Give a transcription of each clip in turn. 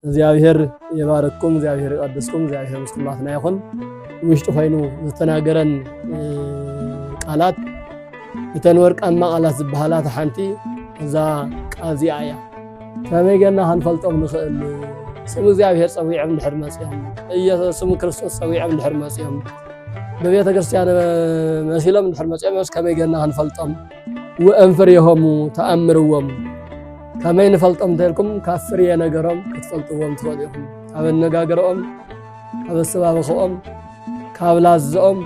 እግዚኣብሔር የባረኩም፣ እግዚኣብሔር ይቀድስኩም፣ እግዚኣብሔር ምስ ኩላትና ይኹን። ውሽጢ ኮይኑ ዝተናገረን ቃላት እተን ወርቃማ ቃላት ዝበሃላ ሓንቲ እዛ ቃል እዚኣ እያ። ከመይ ገና ክንፈልጦም ንኽእል ስም እግዚኣብሔር ፀዊዖም ድሕር መፅኦም ስም ክርስቶስ ፀዊዖም ድሕር መፅኦም ንቤተ ክርስቲያን መሲሎም እንድሕር መፅኦም ዮስ ከመይ ገና ክንፈልጦም ወእም ፍሬሆሙ ተኣምርዎም ከመይ ንፈልጦም እንተልኩም ካብ ፍሬ ነገሮም ክትፈልጥዎም ትኽእሉ ኢኹም ካብ ኣነጋገሮኦም ካብ ኣሰባብኽኦም ካብ ላዝኦም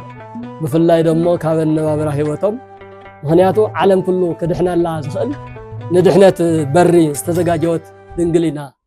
ብፍላይ ደሞ ካብ ኣነባብራ ህይወቶም ምክንያቱ ዓለም ኩሉ ክድሕነላ ዝኽእል ንድሕነት በሪ ዝተዘጋጀወት ድንግል ኢና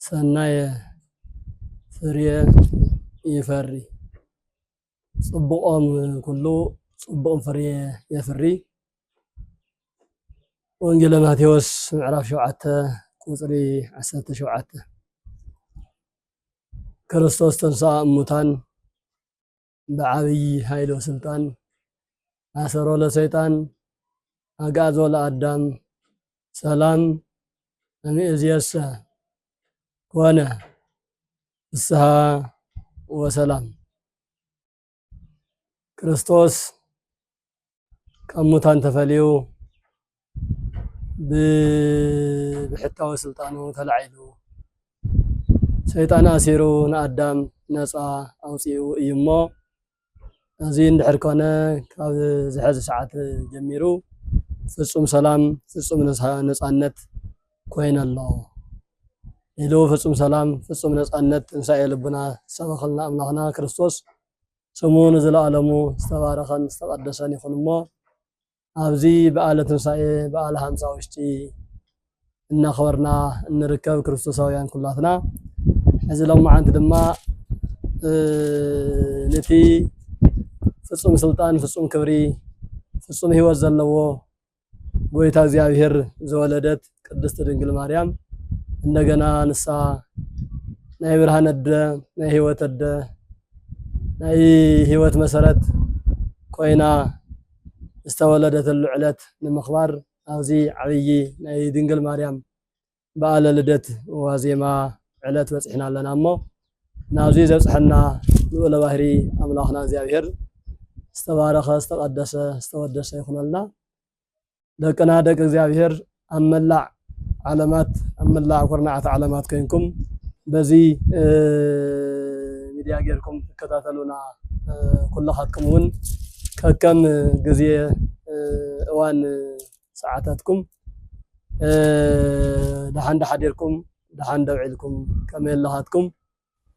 ሰናየ ፍርየ ይፈሪ፣ ጽቡቆም ኩሉ ጽቡቅ ፍርየ የፍሪ። ወንጌለ ማቴዎስ ምዕራፍ ሸውዓተ ቁጽሪ ዓሰርተ ሸውዓተ ክርስቶስ ተንሥኣ እሙታን ብዓብዪ ኃይሎ ሥልጣን ኣሰሮ ለሰይጣን ኣግኣዞ ለኣዳም ሰላም እምይእዜሰ ኮነ ፍስሃ ወሰላም ክርስቶስ ካብ ሙታን ተፈልዩ ብብሕታዊ ስልጣኑ ተላዒሉ ሰይጣን ኣሲሩ ንኣዳም ነፃ ኣውፂኡ እዩ እሞ እዚ እንድሕር ኮነ ካብ ዝሐዚ ሰዓት ጀሚሩ ፍፁም ሰላም ፍፁም ነፃነት ኮይነ ኣሎ ኢሉ ፍፁም ሰላም ፍፁም ነፃነት ትንሳኤ ልቡና ዝሰበኸልና ኣምላኽና ክርስቶስ ስሙ ንዘለኣለሙ ዝተባረኸን ዝተቐደሰን ይኹን እሞ ኣብዚ በዓለ ትንሳኤ በዓለ ሃምሳ ውሽጢ እናኽበርና እንርከብ ክርስቶሳውያን ኩላትና ሕዚ ሎማዓንቲ ድማ ነቲ ፍፁም ስልጣን ፍፁም ክብሪ ፍፁም ህይወት ዘለዎ ጎይታ እግዚኣብሔር ዘወለደት ቅድስት ድንግል ማርያም እንደገና ንሳ ናይ ብርሃን ኣደ ናይ ህይወት ኣደ ናይ ህይወት መሰረት ኮይና ዝተወለደትሉ ዕለት ንምኽባር ኣብዚ ዓብዪ ናይ ድንግል ማርያም በዓለ ልደት ዋዜማ ዕለት በፂሕና ኣለና እሞ ናብዚ ዘብፅሐና ልዑለ ባህሪ ኣምላኽና እግዚኣብሔር ዝተባረኸ ዝተቀደሰ ዝተወደሰ ይኹነልና። ደቅና ደቂ እግዚኣብሔር ኣብ መላዕ ዓለማት ኣብ መላዕ ኩርናዓት ዓለማት ኮይንኩም በዚ ሚድያ ጌርኩም ትከታተሉና ኩላኻትኩም እውን ከከም ግዜ እዋን ሰዓታትኩም ደሓን ዳሓደርኩም ደሓን ደውዒልኩም ከመይ ኣለኻትኩም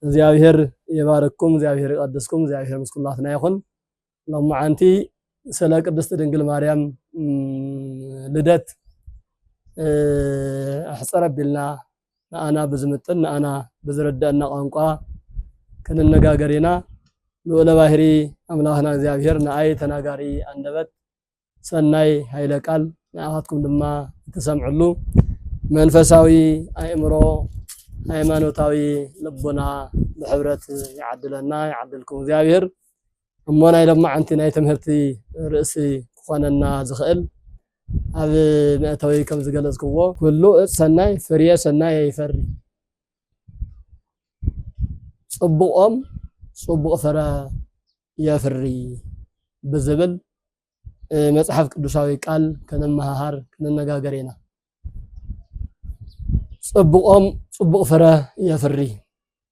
እግዚኣብሔር ይባርክኩም እግዚኣብሔር ይቀድስኩም እግዚኣብሔር ምስ ኩላትና ይኹን ሎማዓንቲ ስለ ቅድስቲ ድንግል ማርያም ልደት ኣሕፀረ ቢልና ንኣና ብዝምጥን ንኣና ብዝረዳእና ቋንቋ ክንነጋገር ኢና ልኡለ ባህሪ ኣምላኽና እግዚኣብሔር ንኣይ ተናጋሪ ኣንደበት ሰናይ ሃይለ ቃል ንዓኻትኩም ድማ እትሰምዕሉ መንፈሳዊ ኣእምሮ ሃይማኖታዊ ልቦና ብሕብረት ይዓድለና ይዓድልኩም እግዚኣብሔር እሞ ናይ ሎማዓንቲ ናይ ትምህርቲ ርእሲ ክኾነና ዝኽእል ኣብ መእተዊ ከም ዝገለጽክዎ ኩሉ እፅ ሰናይ ፍርየ ሰናይ ይፈሪ ፅቡቆም ፅቡቅ ፍረ የፍሪ ብዝብል መጽሓፍ ቅዱሳዊ ቃል ክንመሃሃር ክንነጋገር ኢና። ጽቡቆም ጽቡቅ ፍረ የፍሪ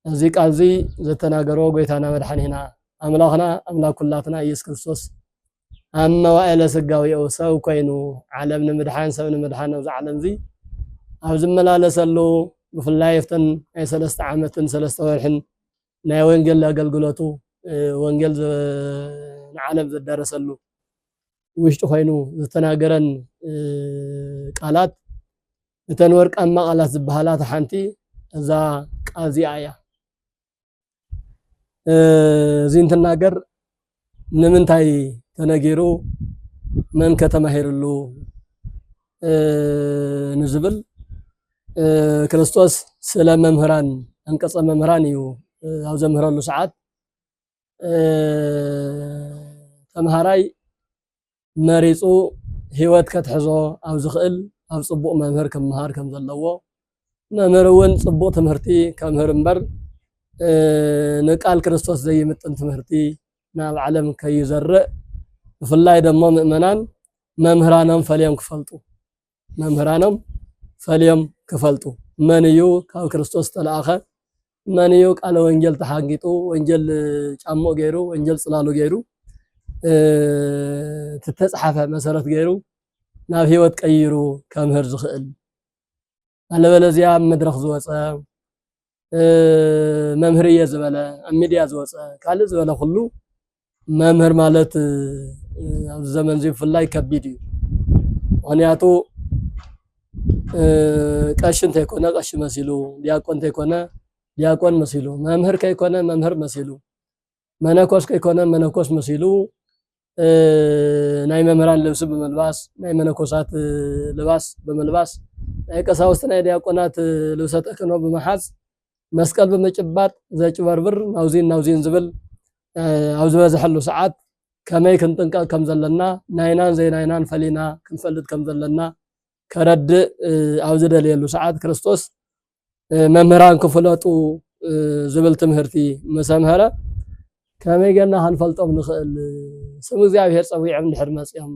እዚ ቃል እዚ ዘተናገሮ ጎይታና መድሓኒና ኣምላኽና ኣምላክ ኩላትና ኢየሱስ ክርስቶስ ኣብ መዋእለ ስጋዊኡ ሰብ ኮይኑ ዓለም ንምድሓን ሰብ ንምድሓን ኣብዚ ዓለም እዚ ኣብ ዝመላለሰሉ ብፍላይ ኣብተን ናይ ሰለስተ ዓመትን ሰለስተ ወርሕን ናይ ወንጌል ኣገልግሎቱ ወንጌል ንዓለም ዘዳረሰሉ ውሽጢ ኮይኑ ዝተናገረን ቃላት እተን ወርቃማ ቃላት ዝበሃላ ሓንቲ እዛ ቃል እዚኣ እያ። እዚ እንትናገር ንምንታይ ተነጊሩ መን ከ ተማሂርሉ ንዝብል ክርስቶስ ስለ መምህራን ኣንቀጸ መምህራን እዩ ኣብ ዘምህረሉ ሰዓት ተምሃራይ መሪጹ ህይወት ከትሕዞ ኣብ ዝኽእል ኣብ ጽቡቕ መምህር ክመሃር ከም ዘለዎ መምህር እውን ጽቡቕ ትምህርቲ ከምህር እምበር ንቃል ክርስቶስ ዘይምጥን ትምህርቲ ናብ ዓለም ከይዘርእ ብፍላይ ደሞ ምእመናን መምህራኖም ፈልዮም ክፈልጡ መምህራኖም ፈልዮም ክፈልጡ መን እዩ ካብ ክርስቶስ ዝተለኣኸ መን እዩ ቃለ ወንጌል ተሓንጊጡ ወንጌል ጫምኡ ገይሩ ወንጌል ጽላሉ ገይሩ እተተጽሓፈ መሰረት ገይሩ ናብ ህይወት ቀይሩ ከምህር ዝኽእል ኣለበለዚያ ኣብ መድረኽ ዝወፀ መምህር እየ ዝበለ ኣብ ሚድያ ዝወፀ ካልእ ዝበለ ኩሉ መምህር ማለት ኣብዚ ዘመን እዚ ብፍላይ ከቢድ እዩ ምክንያቱ ቀሺ እንተይኮነ ቀሺ መሲሉ ዲያቆን እንተይኮነ ዲያቆን መሲሉ መምህር ከይኮነ መምህር መሲሉ መነኮስ ከይኮነ መነኮስ መሲሉ ናይ መምህራን ልብሲ ብምልባስ ናይ መነኮሳት ልባስ ብምልባስ ናይ ቀሳውስቲ ናይ ዲያቆናት ልብሰ ተክህኖ ብምሓዝ መስቀል ብምጭባጥ ዘጭበርብር ናውዚን ናውዚን ዝብል ኣብ ዝበዝሐሉ ሰዓት ከመይ ክንጥንቀቕ ከም ዘለና ናይናን ዘይናይናን ፈሊና ክንፈልጥ ከም ዘለና ከረድእ ኣብ ዝደልየሉ ሰዓት ክርስቶስ መምህራን ክፍለጡ ዝብል ትምህርቲ ምስ ኣምሀረ ከመይ ገና ክንፈልጦም ንኽእል? ስም እግዚኣብሔር ጸዊዖም እንድሕር መጺኦም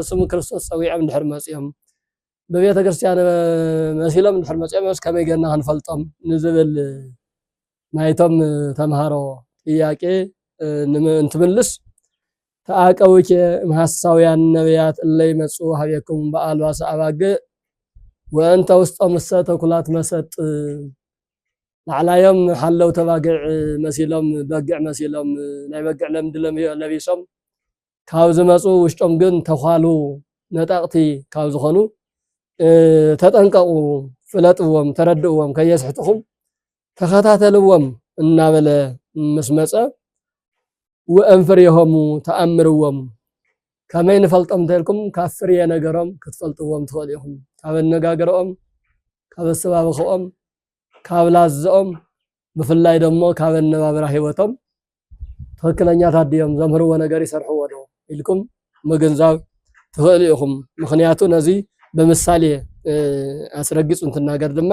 ስም ክርስቶስ ጸዊዖም እንድሕር መጺኦም ብቤተ ክርስቲያን መሲሎም እንድሕር መጺኦም ከመይ ገና ክንፈልጦም ንዝብል ናይቶም ተምሃሮ ጥያቄ እንትምልስ ተኣቀውኬ እምሃሳውያን ነቢያት እለ ይመጹ ሀቤክሙ በአልባሰ አባግዕ ወእንተ ውስጦምሰ ተኩላት መሰጥ ላዕላዮም ሓለው ተባግዕ መሲሎም በግዕ መሲሎም ናይ በግዕ ለምዲ ለቢሶም ካብ ዝመፁ ውሽጦም ግን ተኳሉ ነጠቕቲ ካብ ዝኾኑ ተጠንቀቑ፣ ፍለጥዎም፣ ተረድእዎም ከየስሕትኹም ተኸታተልዎም እናበለ ምስ መጸ ወእምፍሬሆሙ ተኣምርዎም ከመይ ንፈልጦም እንተልኩም ካብ ፍርየ ነገሮም ክትፈልጥዎም ትኽእሉ ኢኹም ካብ ኣነጋግረኦም ካብ ኣሰባብኽኦም ካብ ላዝኦም ብፍላይ ደሞ ካብ ኣነባብራ ህይወቶም ትኽክለኛታት ድዮም ዘምህርዎ ነገር ይሰርሕዎ ዶ ኢልኩም ምግንዛብ ትኽእሉ ኢኹም። ምክንያቱ ነዚ ብምሳሌ ኣስረጊጹ እንትናገር ድማ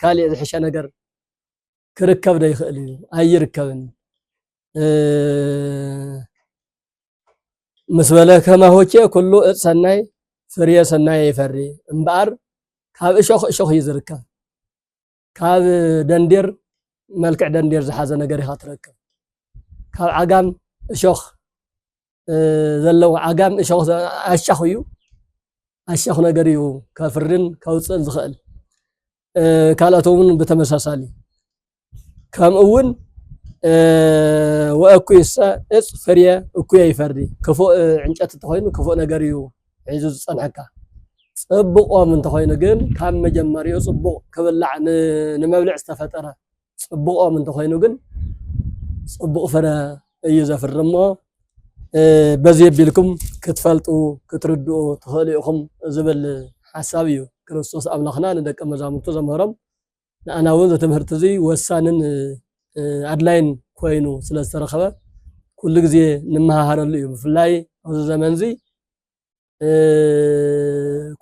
ካሊእ ዝሕሸ ነገር ክርከብ ዶ ይኽእል እዩ? ኣይርከብን ምስ በለ ከማሆቼ ኩሉ እፅ ሰናይ ፍርየ ሰናይ ይፈሪ እምበኣር ካብ እሾኽ እሾኽ እዩ ዝርከብ። ካብ ደንዴር መልክዕ ደንዴር ዝሓዘ ነገር ኢኻ ትረክብ ካብ ዓጋም እሾኽ ዘለዎ ዓጋም እሾኽ ኣሻኽ እዩ ኣሻኽ ነገር እዩ ከፍርን ከውፅእን ዝኽእል ካልኦት እውን ብተመሳሳሊ ከምኡ እውን ወእኩይሰ እፅ ፍርየ እኩየ ይፈሪ ክፉእ ዕንጨት እንተኮይኑ ክፉእ ነገር እዩ ሒዙ ዝጸንሐካ። ጽብቆም እንተኾይኑ ግን ካብ መጀመሪኡ ጽቡቕ ክብላዕ ንመብልዕ ዝተፈጠረ ጽብቆም እንተኾይኑ ግን ጽቡቕ ፍረ እዩ ዘፍሪ እሞ በዚ የቢልኩም ክትፈልጡ ክትርድኡ ትኽእሉ ኢኹም ዝብል ሓሳብ እዩ ክርስቶስ ኣምላኽና ንደቀ መዛሙርቱ ዘምህሮም ንኣና እውን እዚ ትምህርቲ እዚ ወሳንን ኣድላይን ኮይኑ ስለ ዝተረኸበ ኩሉ ግዜ ንመሃሃረሉ እዩ። ብፍላይ ኣብዚ ዘመን እዚ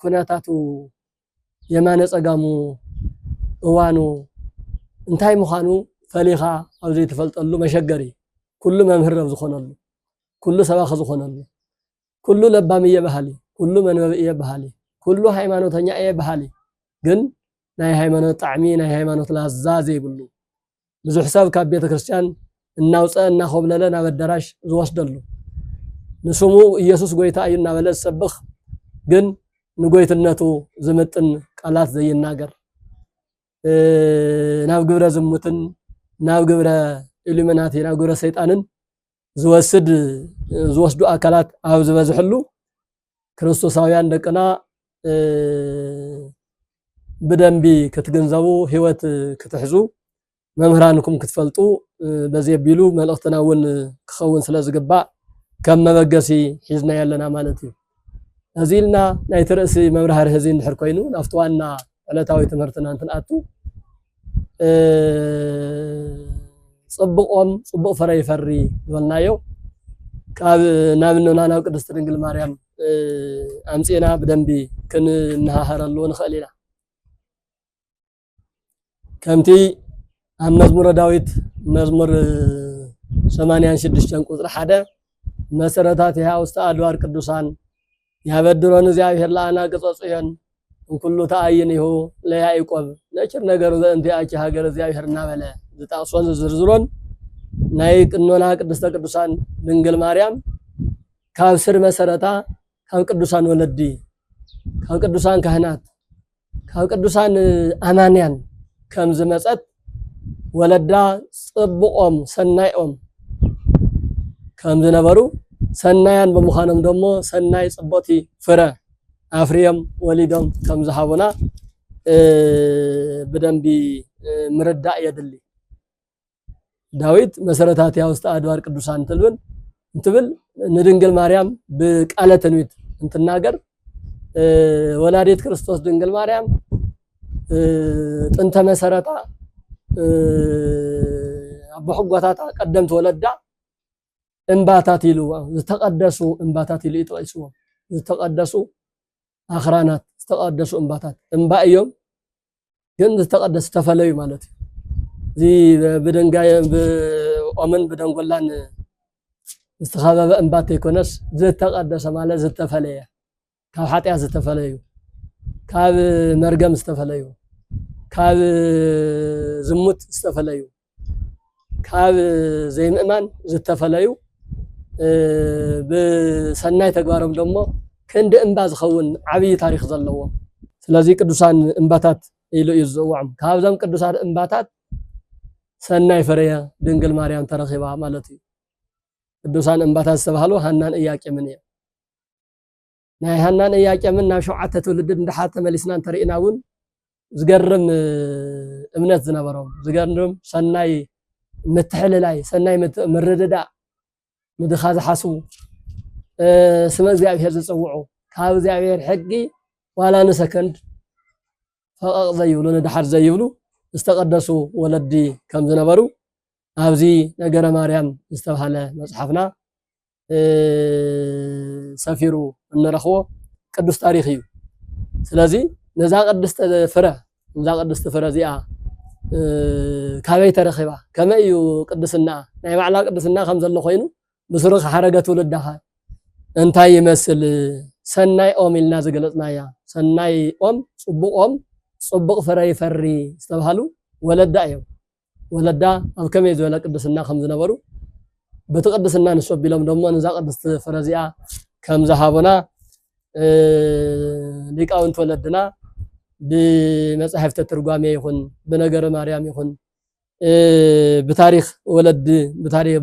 ኩነታቱ የማነ ጸጋሙ እዋኑ እንታይ ምዃኑ ፈሊኻ ኣብ ዘይትፈልጠሉ መሸገሪ ኩሉ መምህር ኣብ ዝኾነሉ ኩሉ ሰባኺ ዝኾነሉ ኩሉ ለባም እየ በሃሊ ኩሉ መንበብ እየ በሃሊ ኩሉ ሃይማኖተኛ እየ በሃሊ ግን ናይ ሃይማኖት ጣዕሚ ናይ ሃይማኖት ላዛ ዘይብሉ ብዙሕ ሰብ ካብ ቤተ ክርስቲያን እናውፀአ እናኾብለለ ናብ ኣዳራሽ ዝወስደሉ ንስሙ ኢየሱስ ጎይታ እዩ እናበለ ዝሰብኽ ግን ንጎይትነቱ ዝምጥን ቃላት ዘይናገር ናብ ግብረ ዝሙትን ናብ ግብረ ኢሉሚናቲ ናብ ግብረ ሰይጣንን ዝወስድ ዝወስዱ ኣካላት ኣብ ዝበዝሕሉ ክርስቶሳውያን ደቅና ብደንቢ ክትግንዘቡ ህይወት ክትሕዙ መምህራንኩም ክትፈልጡ በዚ ኣቢሉ መልእኽትና እውን ክኸውን ስለ ዝግባእ ከም መበገሲ ሒዝናዮ ኣለና ማለት እዩ እዚ ኢልና ናይቲ ርእሲ መብራህርሂ እዚ እንድሕር ኮይኑ ናብቲ ዋና ዕለታዊ ትምህርትና እንትንኣቱ ጽቡቆም ጽቡቅ ፍረ ይፈሪ ዝበልናዮ ካብ ናብ እኖና ናብ ቅድስቲ ድንግል ማርያም ኣምጺእና ብደንቢ ክንመሃሃረሉ ንኽእል ኢና ከምቲ ኣብ መዝሙረ ዳዊት መዝሙር ሰማንያን ሽዱሽተን ቁፅሪ ሓደ መሰረታት ይሃ ውስተ ኣድዋር ቅዱሳን ያበድሮን እግዚኣብሔር ለኣና ቅጸጹ እዮን እንኩሉ ተኣይን ይሁ ለያዕቆብ ነችር ነገር ዘእንቲኣች ሃገር እግዚኣብሔር እናበለ ዝጠቕሶን ዝዝርዝሮን ናይ ቅኖና ቅድስተ ቅዱሳን ድንግል ማርያም ካብ ስር መሰረታ ካብ ቅዱሳን ወለዲ ካብ ቅዱሳን ካህናት ካብ ቅዱሳን ኣማንያን ከም ዝመጸት ወለዳ ጽቡቆም ሰናይኦም ከም ዝነበሩ ሰናያን ብምዃኖም ደሞ ሰናይ ጽቡቕቲ ፍረ ኣፍርዮም ወሊዶም ከም ዝሃቡና ብደንቢ ምርዳእ የድሊ። ዳዊት መሰረታት ያውስተ አድባር ቅዱሳን ትልብል እንትብል ንድንግል ማርያም ብቃለ ትንቢት እንትናገር ወላዲት ክርስቶስ ድንግል ማርያም ጥንተ መሰረታ ኣቦሕጓታታ ቀደምቲ ወለዳ እምባታት ኢልዎ ዝተቀደሱ እምባታት ኢሉ ይጠቂስዎም ዝተቀደሱ ኣኽራናት፣ ዝተቐደሱ እምባታት፣ እምባ እዮም ግን ዝተቐደሱ ዝተፈለዩ ማለት እዩ። እዚ ብድንጋይ ብኦምን ብደንጎላን ዝተኸበበ እምባ እንተይኮነስ ዝተቐደሰ ማለት ዝተፈለየ ካብ ሓጢኣት ዝተፈለዩ ካብ መርገም ዝተፈለዩ ካብ ዝሙት ዝተፈለዩ ካብ ዘይምእማን ዝተፈለዩ ብሰናይ ተግባሮም ደሞ ክንዲ እምባ ዝኸውን ዓብዪ ታሪኽ ዘለዎም ስለዚ ቅዱሳን እምባታት ኢሉ እዩ ዝፅውዖም። ካብዞም ቅዱሳት እምባታት ሰናይ ፍሬ ድንግል ማርያም ተረኺባ ማለት እዩ። ቅዱሳን እምባታት ዝተባህሉ ሃናን እያቄምን እዮም። ናይ ሃናን እያቄምን ናብ ሸውዓተ ትውልድድ ንደሓር ተመሊስና እንተሪእና እውን ዝገርም እምነት ዝነበሮም ዝገርም ሰናይ ምትሕልላይ ሰናይ ምርድዳእ ንድኻ ዝሓስቡ ስመ እግዚኣብሔር ዝፅውዑ ካብ እግዚኣብሔር ሕጊ ዋላ ንሰከንድ ፈቐቕ ዘይብሉ ንድሓር ዘይብሉ ዝተቐደሱ ወለዲ ከም ዝነበሩ ኣብዚ ነገረ ማርያም ዝተብሃለ መፅሓፍና ሰፊሩ እንረኽቦ ቅዱስ ታሪኽ እዩ ስለዚ ነዛ ቅድስቲ ፍረ እዛ ቅድስቲ ፍረ እዚኣ ካበይ ተረኺባ ከመይ እዩ ቅድስና ናይ ባዕላ ቅድስና ከም ዘሎ ኮይኑ ብስሩ ሓረገ ትውልዳኻ እንታይ ይመስል ሰናይ ኦም ኢልና ዝገለፅናያ ሰናይ ኦም ፅቡቅ ኦም ፅቡቅ ፍረ ይፈሪ ዝተባሃሉ ወለዳ እዮም ወለዳ ኣብ ከመይ ዝበለ ቅድስና ከም ዝነበሩ በቲ ቅድስና ንሱ ኣቢሎም ደሞ ነዛ ቅድስቲ ፍረ እዚኣ ከም ዝሃቡና ሊቃውንቲ ወለድና ብመጻሕፍተ ትርጓሜ ይኹን ብነገረ ማርያም ይኹን ብታሪኽ ወለዲ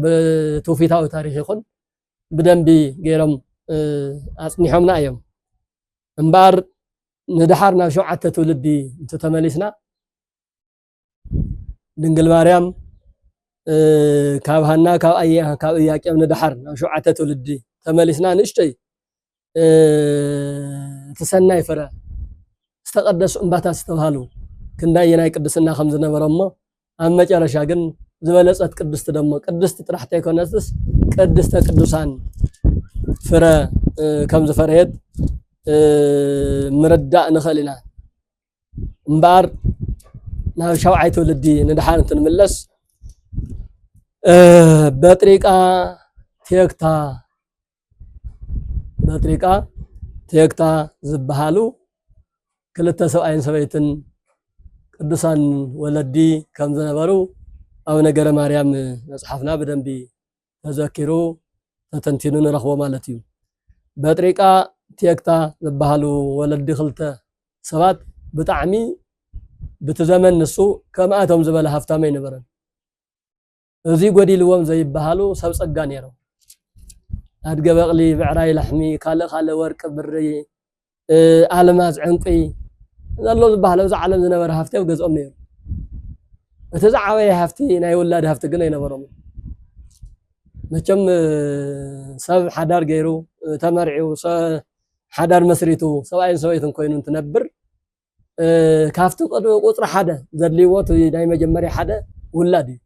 ብትውፊታዊ ታሪኽ ይኹን ብደንቢ ገይሮም ኣጽኒሖምና እዮም እምበኣር ንድሓር ናብ ሸውዓተ ትውልዲ እንተተመሊስና ድንግል ማርያም ካብ ሃና ካብ ኣየ ካብ እያቄም ንደሓር ናብ ሸውዓተ ትውልዲ ተመሊስና ንእሽተይ እቲ ሰናይ ፍረ ዝተቀደሱ እምባታት ዝተባሃሉ ክንዳይ የናይ ቅድስና ከም ዝነበሮ እሞ ኣብ መጨረሻ ግን ዝበለጸት ቅድስቲ ደሞ ቅድስቲ ጥራሕ ተይኮነትስ ቅድስተ ቅዱሳን ፍረ ከም ዝፈረየት ምርዳእ ንኽእል ኢና። እምበኣር ናብ ሻውዓይ ትውልዲ ንድሓር እንትንምለስ በጥሪቃ ቴክታ በጥሪቃ ቴክታ ዝበሃሉ ክልተ ሰብኣይን ሰበይትን ቅዱሳን ወለዲ ከም ዝነበሩ ኣብ ነገረ ማርያም መጽሓፍና ብደንቢ ተዘኪሩ ተተንቲኑ ንረኽቦ ማለት እዩ። በጥሪቃ ቴክታ ዝበሃሉ ወለዲ ክልተ ሰባት ብጣዕሚ ብቲ ዘመን ንሱ ከምኣቶም ዝበለ ሃፍታም ኣይነበረን። እዚ ጎዲልዎም ዘይበሃሉ ሰብ ጸጋ ነይሮም። ኣድገ በቕሊ፣ ብዕራይ ላሕሚ፣ ካልእ ካልእ ወርቂ፣ ብሪ፣ ኣልማዝ ዕንቂ ዘሎ ዝበሃል ኣብዚ ዓለም ዝነበረ ሃፍቲ ኣብ ገዝኦም ነይሩ እቲ ዝዓበየ ሃፍቲ ናይ ውላድ ሃፍቲ ግን ኣይነበሮም መቸም ሰብ ሓዳር ገይሩ ተመርዒው ሓዳር መስሪቱ ሰብኣይን ሰበይትን ኮይኑ እንትነብር ካብቲ ቁፅሪ ሓደ ዘድልይዎ ናይ መጀመርያ ሓደ ውላድ እዩ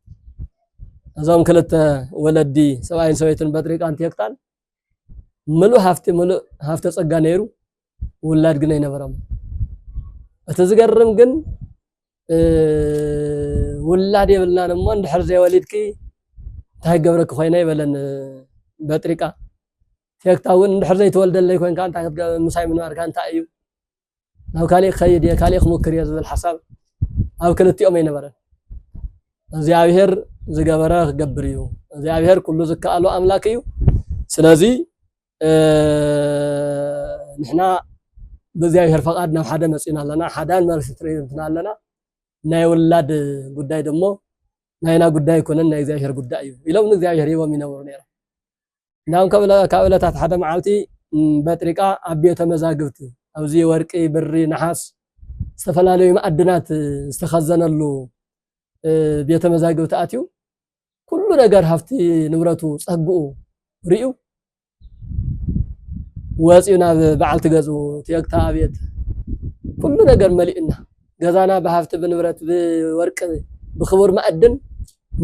እዞም ክልተ ወለዲ ሰብኣይን ሰበይትን በጥሪቃን ቴክታን ምሉእ ሃፍቲ ምሉእ ሃፍተ ጸጋ ነይሩ፣ ውላድ ግን ኣይነበሮም። እቲ ዝገርም ግን ውላድ የብልናን እሞ እንድሕር ዘይወሊድኪ እንታይ ገብረኪ ኮይነ ይበለን በጥሪቃ ፌክታ እውን እንድሕር ዘይተወልደለይ ኮንካ እንታይ ምሳይ ምንባርካ እንታይ እዩ ናብ ካሊእ ክኸይድ እየ ካሊእ ክሙክር እየ ዝብል ሓሳብ ኣብ ክልቲኦም ኣይነበረን። እግዚኣብሔር ዝገበረ ክገብር እዩ። እግዚኣብሔር ኩሉ ዝከኣሎ ኣምላክ እዩ። ስለዚ ንሕና ብእግዚኣብሔር ፈቃድ ናብ ሓደ መፂና ኣለና ሓዳን መልሲ ትርኢትና ኣለና ናይ ውላድ ጉዳይ ደሞ ናይና ጉዳይ ኣይኮነን ናይ እግዚኣብሔር ጉዳይ እዩ ኢሎም ንእግዚኣብሔር ሂቦም ይነብሩ ነይሮም። እንዳውም ካብ እለታት ሓደ መዓልቲ በጥሪቃ ኣብ ቤተ መዛግብት ኣብዚ ወርቂ፣ ብሪ፣ ነሓስ ዝተፈላለዩ መኣድናት ዝተኸዘነሉ ቤተ መዛግብት ኣትዩ ኩሉ ነገር ሃፍቲ ንብረቱ ጸግኡ ርእዩ ወፂኡ ናብ በዓልቲ ገዝኡ ትየግታ ኣቤት ኩሉ ነገር መሊኡና ገዛና ብሃፍቲ ብንብረት ብወርቂ ብክቡር መኣድን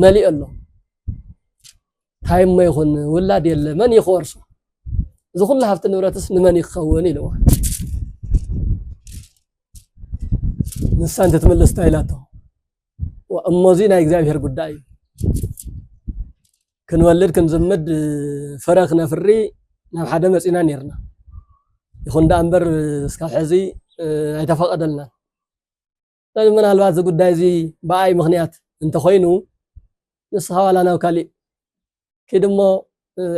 መሊኡ ኣሎ ታይ እሞ ይኹን ውላድ የለ መን እዩ ክወርሶ እዚ ኩሉ ሃብቲ ንብረትስ ንመን እዩ ክኸውን ኢልዋ ንሳ እንትትምልስ ታይ ኢላቶ እሞዚ ናይ እግዚኣብሔር ጉዳይ እዩ ክንወልድ ክንዝምድ ፍረ ክነፍሪ ናብ ሓደ መፂና ነርና ይኹን ደኣ እምበር እስካብ ሕዚ ኣይተፈቐደልናን ምናልባት እዚ ጉዳይ እዚ ብኣይ ምኽንያት እንተኾይኑ ንስኻ ዋላ ናብ ካሊእ ኪድ እሞ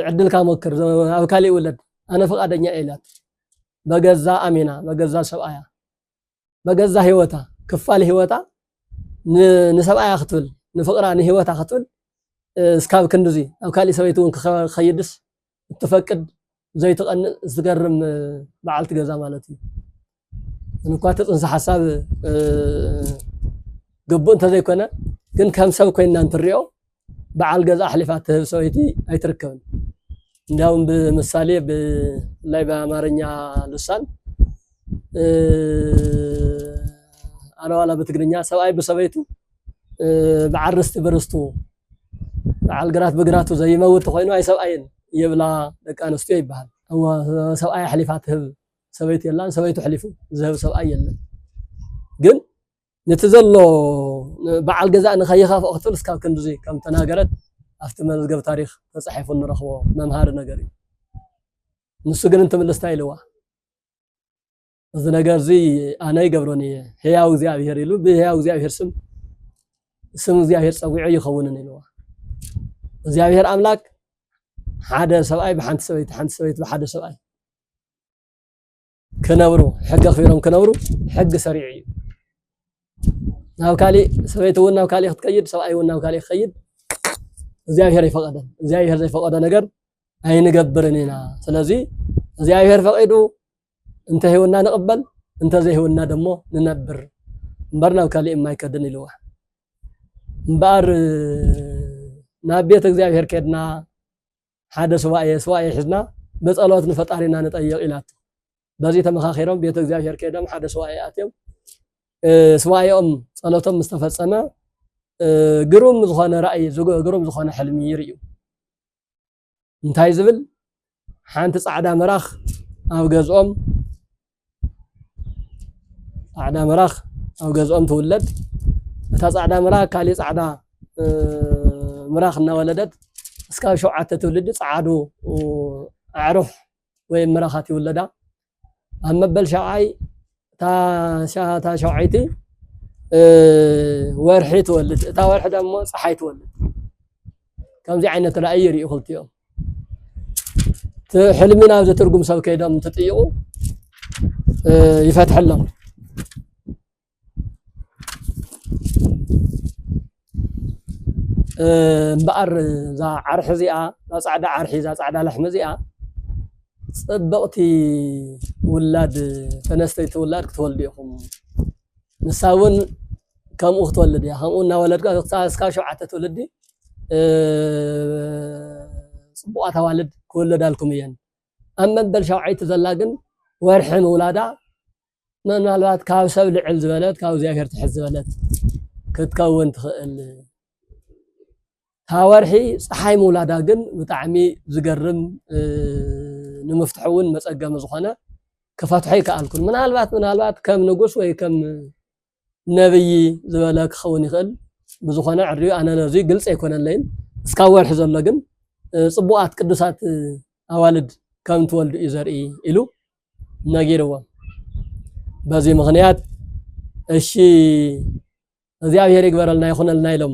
ዕድልካ ሞክር ኣብ ካሊእ ውለድ ኣነ ፍቃደኛ እየ ኢላቶ በገዛ ኣሚና በገዛ ሰብኣያ በገዛ ሂወታ ክፋል ሂወታ ንሰብኣያ ክትብል ንፍቅራ ንሂወታ ክትብል እስካብ ክንድዚ ኣብ ካሊእ ሰበይቲ እውን ክኸይድስ እትፈቅድ ዘይትቐንእ ዝገርም በዓልቲ ገዛ ማለት እዩ እንኳ እቲ ፅንሰ ሓሳብ ግቡእ እንተዘይኮነ ግን ከም ሰብ ኮይና እንትሪኦ በዓል ገዛ ኣሕሊፋ ትህብ ሰበይቲ ኣይትርከብን እንዲያውም ብምሳሌ ብላይ በአማርኛ ልሳን ኣነዋላ በትግርኛ ሰብኣይ ብሰበይቱ ብዓርስቲ በርስቱ በዓል ግራት ብግራቱ ዘይመውት ተኾይኑ ኣይሰብኣይን ይብላ ደቂ ኣንስትዮ ይበሃል። እወ ሰብኣይ ኣሕሊፋ ትህብ ሰበይቲ የላን፣ ሰበይቱ ኣሕሊፉ ዝህብ ሰብኣይ የለን። ግን ነቲ ዘሎ በዓል ገዛእ ንኸይኸፍኦ ክትብል እስካብ ክንድዚ ከም ተናገረት ኣብቲ መዝገብ ታሪክ ተጻሒፉ ንረኽቦ መምሃሪ ነገር እዩ። ንሱ ግን እንትምልስ እንታይ ኢልዋ? እዚ ነገር እዚ ኣነ ይገብሮን እየ ህያው እግዚኣብሄር ኢሉ ብህያው እግዚኣብሄር ስም ስም እግዚኣብሄር ፀዊዑ ይኸውንን ኢልዋ እግዚኣብሄር ኣምላክ ሓደ ሰብኣይ ብሓንቲ ሰበይቲ ሓንቲ ሰበይቲ ብሓደ ሰብኣይ ክነብሩ ሕጊ ኣኽቢሮም ክነብሩ ሕጊ ሰሪዑ እዩ ናብ ካሊእ ሰበይቲ እውን ናብ ካሊእ ክትከይድ ሰብኣይ እውን ናብ ካሊእ ክኸይድ እግዚኣብሄር ይፈቐደን እግዚኣብሄር ዘይፈቐዶ ነገር ኣይንገብርን ኢና ስለዚ እግዚኣብሄር ፈቒዱ እንተሂውና ንቕበል እንተዘይሂውና ደሞ ንነብር እምበር ናብ ካልእ የማይከድን ኢልዋ እምበኣር ናብ ቤት እግዚኣብሔር ከድና ሓደ ስዋኤ ስዋኤ ሒዝና ብጸሎት ንፈጣሪና ንጠየቕ ኢላቶ በዚ ተመኻኺሮም ቤት እግዚኣብሔር ከይዶም ሓደ ስዋኤ ኣትዮም ስዋኤኦም ጸሎቶም ምስ ተፈጸመ ግሩም ዝኾነ ራእይ ግሩም ዝኾነ ሕልሚ ይርእዩ እንታይ ዝብል ሓንቲ ጻዕዳ መራኽ ኣብ ገዝኦም ጻዕዳ መራኽ ኣብ ገዝኦም ትውለድ እታ ጻዕዳ መራኽ ካልእ ጻዕዳ ምራኽ እናወለደት እስካብ ሸውዓተ ትውልዲ ጸዓዱ ኣዕሩኽ ወይም ምራኻት ይውለዳ። ኣብ መበል ሻብዓይ እታ ሻብዓይቲ ወርሒ ትወልድ እታ ወርሒ ደሞ ፀሓይ ትወልድ ከምዚ ዓይነት ራእይ ይርእዩ ክልቲኦም ሕልሚ ናብ ዘትርጉም ሰብ ከይዶም እንትጥይቑ ይፈትሐሎም እምበኣር እዛ ዓርሒ እዚኣ እዛ ፃዕዳ ዓርሒ እዛ ፃዕዳ ላሕሚ እዚኣ ፅብቕቲ ውላድ ተነስተይቲ ውላድ ክትወልዱ ኢኹም ንሳ እውን ከምኡ ክትወልድ እያ ከምኡ እናወለድካ እስካብ ሸውዓተ ትውልዲ ፅቡቓት ኣዋልድ ክውለዳልኩም እየን ኣብ መበል ሸውዓይቲ ዘላ ግን ወርሒ ምውላዳ ምናልባት ካብ ሰብ ልዕል ዝበለት ካብ እግዚኣብሔር ትሕት ዝበለት ክትከውን ትኽእል ካብ ወርሒ ፀሓይ ምውላዳ ግን ብጣዕሚ ዝገርም ንምፍትሑ እውን መፀገሚ ዝኾነ ክፈትሖ ይከኣልኩን ምናልባት ምናልባት ከም ንጉስ ወይ ከም ነብዪ ዝበለ ክኸውን ይኽእል ብዝኾነ ዕርዩ ኣነ ነዙይ ግልፂ ኣይኮነለይን እስካብ ወርሒ ዘሎ ግን ፅቡቓት ቅዱሳት ኣዋልድ ከም ትወልዱ እዩ ዘርኢ ኢሉ ነጊርዎም በዚ ምኽንያት እሺ እግዚኣብሔር ይግበረልና ይኹነልና ኢሎም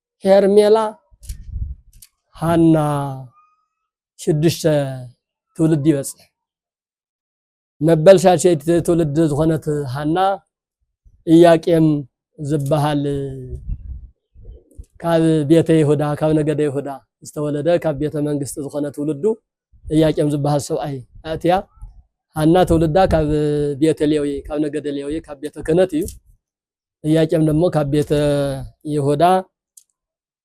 ሄርሜላ ሃና ሽዱሽተ ትውልዲ ይበፅሕ መበል ሻሸይቲ ትውልዲ ዝኾነት ሃና ኢያቄም ዝበሃል ካብ ቤተ ይሁዳ ካብ ነገደ ይሁዳ ዝተወለደ ካብ ቤተ መንግስቲ ዝኾነ ትውልዱ ኢያቄም ዝበሃል ሰብኣይ ኣእትያ ሃና ትውልዳ ካብ ቤተ ሌዊ ካብ ነገደ ሌዊ ካብ ቤተ ክህነት እዩ እያቄም ደግሞ ካብ ቤተ ይሁዳ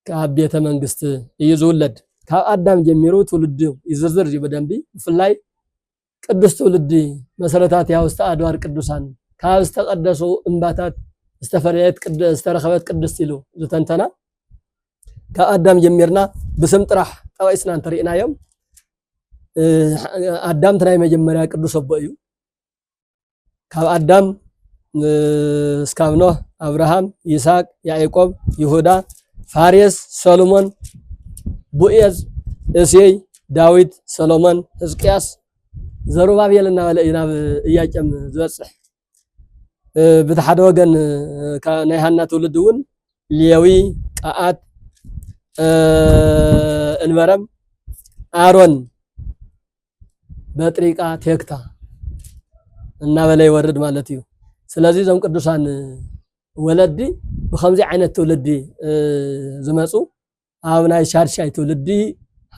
ካብ ቤተ መንግስት እዩ ዝውለድ። ካብ ኣዳም ጀሚሩ ትውልዱ ይዝርዝር እዩ ብደንቢ ብፍላይ ቅዱስ ትውልዲ መሰረታት ያውስተ ኣድባር ቅዱሳን ካብ ዝተቀደሱ እምባታት ዝተፈለየት ዝተረኸበት ቅድስት ኢሉ ዝተንተና ካብ ኣዳም ጀሚርና ብስም ጥራሕ ጠቂስና እንተሪእናዮም ኣዳምቲ ናይ መጀመርያ ቅዱስ ኣቦ እዩ። ካብ ኣዳም እስካብ ኖህ ኣብርሃም ይስሐቅ ያዕቆብ ይሁዳ ፋሬስ ሰሎሞን ቡኤዝ እሴይ ዳዊት ሰሎሞን ሕዝቅያስ ዘሩባቤል እናበለ እዩ ናብ እያቄም ዝበፅሕ ብቲ ሓደ ወገን ናይ ሃና ትውልድ እውን ሌዊ ቀኣት እንበረም ኣሮን በጥሪቃ ቴክታ እናበለ ይወርድ ማለት እዩ። ስለዚ እዞም ቅዱሳን ወለዲ ብከምዚ ዓይነት ትውልዲ ዝመፁ ኣብ ናይ ሻድሻይ ትውልዲ